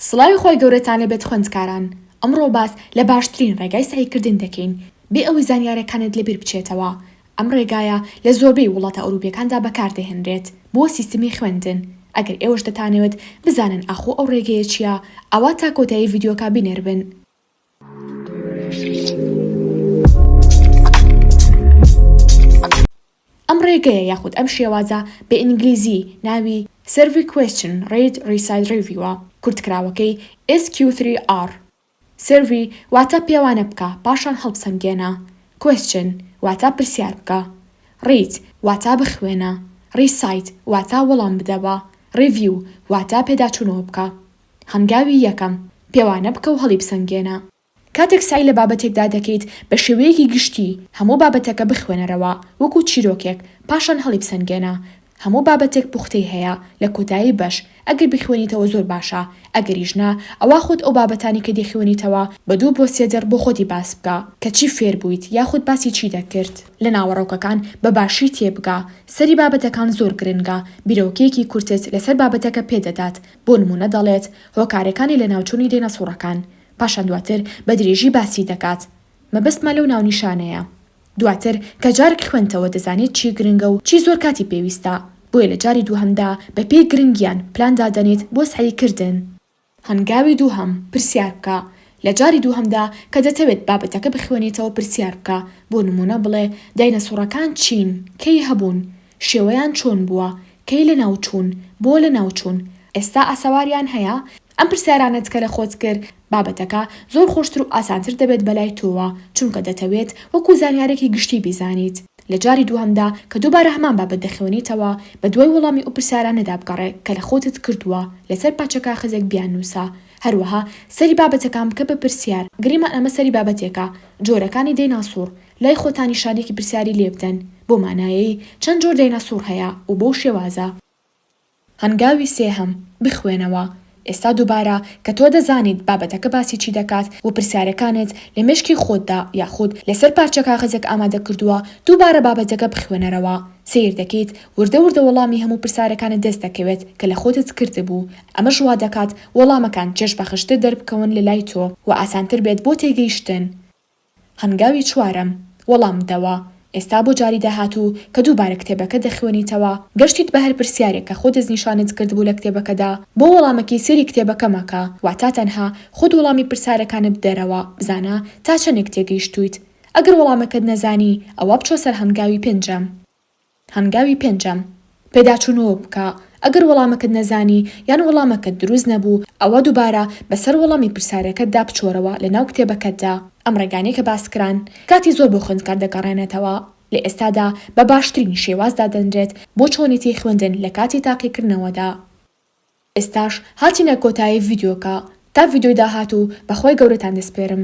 سڵاوی خوای گەورەتان لێ بێت خوێندکاران، ئەمڕۆ باس لە باشترین ڕێگای سەعی کردن دەکەین بێ ئەوەی زانیارەکانت لە بیر بچێتەوە، ئەم ڕێگایە لە زۆربەی وڵاتە ئەوروپیەکاندا بەکار دەهێنرێت بۆ سیستمی خوێندن، ئەگەر ئێوەش دەتانەوێت بزانن ئاخۆ ئەو ڕێگەیە چیە ئەوا تا کۆتایی ڤیدیۆکە بینەر بن. ئەم ڕێگەیە یاخود ئەم شێوازە، بە ئینگلیزی ناوی Survey Question Read Reside Review ە، کورتکراوەکەی، SQ3R. Survey واتە پێوانە بکە پاشان هەڵبسەنگێنە، Question واتە پرسیار بکە، Read واتە بخوێنە، Recite واتە وەڵام بدەوە، Review واتە پێداچوونەوە بکە. هەنگاوی یەکەم، پێوانە بکە و هەڵیبسەنگێنە. کاتێک سەعی لە بابەتێکدا دەکەیت، بە شێوەیەکی گشتی هەموو بابەتەکە بخوێنەرەوە وەکو چیرۆکێک، پاشان هەڵیبسەنگێنە. هەموو بابەتێک پوختەی هەیە، لە کۆتایی بەش، ئەگەر بیخوێنیتەوە زۆر باشە، ئەگەریش نا، ئەوا خۆت ئەو بابەتانەی کە دەیخوێنیتەوە، بە دوو بۆ سێ دەق بۆ خۆتی باس بکە، کە چی فێر بوویت یاخود باسی چی دەکرد. لە ناوەڕۆکەکان بە باشی تێبگە. سەری بابەتەکان زۆر گرنگە، بیرۆکەیەکی کورتت لەسەر بابەتەکە پێدەدات، بۆ نموونە دەڵێت هۆکارەکانی لەناوچوونی دێنەسوڕەکان، پاشان دواتر بە درێژی باسی دەکات. مەبەستمە لەو ناونیشانەیە. دواتر کە جارک خوێندتەوە دەزانیت چی گرنگە و چی زۆر کاتی پێویستە، بۆیە لە جاری دووهەمدا بە پێی گرنگیان پلان دادەنێیت بۆ سەعی کردن. هەنگاوی دووهەم، پرسیار بکە. لە جاری دووهەمدا کە دەتەوێت بابەتەکە بخوێنیتەوە پرسیار بکە، بۆ نموونە بڵێ داینەسوڕەکان چین؟ کەی هەبوون؟ شێوەیان چۆن بووە؟ کەی لەناو چوون؟ بۆ لەناو چوون؟ ئێستا ئاسەواریان هەیە؟ ئەم پرسیارانەت کە لە خۆت کرد، بابەتەکە زۆر خۆشتر و ئاسانتر دەبێت بەلای تۆوە، چونکە دەتەوێت وەکو زانیارێکی گشتی بیزانیت. لە جاری دووهەمدا کە دووبارە هەمان بابەت دەخوێنیتەوە، بە دوای وەڵامی ئەو پرسیارانەدا بگەڕێ کە لە خۆتت کردووە، لەسەر پارچە کاخەزێک بیاننووسە. هەروەها سەیری بابەتەکان بکە بە پرسیار، گریمان ئەمە سەیری بابەتێکە، جۆرەکانی دەیناسوڕ، لای خۆتانی شانێکی پرسیاری لێ بدەن بۆ مانایەی چەند جۆر دەیناسوڕ هەیە و بەو شێوازە. هەنگاوی سێهەم، بخوێنەوە. ئێستا دووبارە کە تۆ دەزانیت بابەتەکە باسی چی دەکات و پرسیارەکانت لە مێشکی خۆتدا یاخود لەسەر پارچە کاغەزێک ئامادە کردووە، دووبارە بابەتەکە بخوێنەرەوە. سەیر دەکەیت وردە وردە وەڵامی هەموو پرسارەکانت دەست دەکەوێت کە لە خۆتت کردبوو. ئەمەش وا دەکات وەڵامەکان چێژبەخشتر دەربکەون لە لای تۆ و ئاسانتر بێت بۆ تێگەیشتن. هەنگاوی چوارەم، وەڵام بدەوە. ئێستا بۆ جاری داهاتوو کە دووبارە کتێبەکە دەخوێنیتەوە، گەشتیت بە هەر پرسیارێک کە خۆ دەستنیشانت کردبوو لە کتێبەکەدا، بۆ وەڵامەکەی سەیری کتێبەکە مەکە، واتە تەنها خۆت وەڵامی پرسارەکانت بدەرەوە، بزانە تا چەندێک تێگەیشتوویت. ئەگەر وەڵامەکەت نەزانی، ئەوا بچۆ سەر هەنگاوی پێنجەم. هەنگاوی پێنجەم، پێداچوونەوە بکە، ئەگەر وەڵامەکەت نەزانی یان وەڵامەکەت دروست نەبوو، ئەوا دووبارە بەسەر وەڵامی پرسیارەکەتدا بچۆرەوە لەناو کتێبەکەتدا. ئەم ڕێگانەی کە باسکران کاتی زۆر بۆ خوێندکار دەگەڕێنێتەوە، لە ئێستادا بە باشترین شێواز دادەنرێت بۆ چۆنێتی خوێندن لە کاتی تاقیکردنەوەدا. ئێستاش هاتینە کۆتایی ڤیدیۆکە، تا ڤیدیۆی داهاتوو بە خوای گەورەتان دەسپێرم.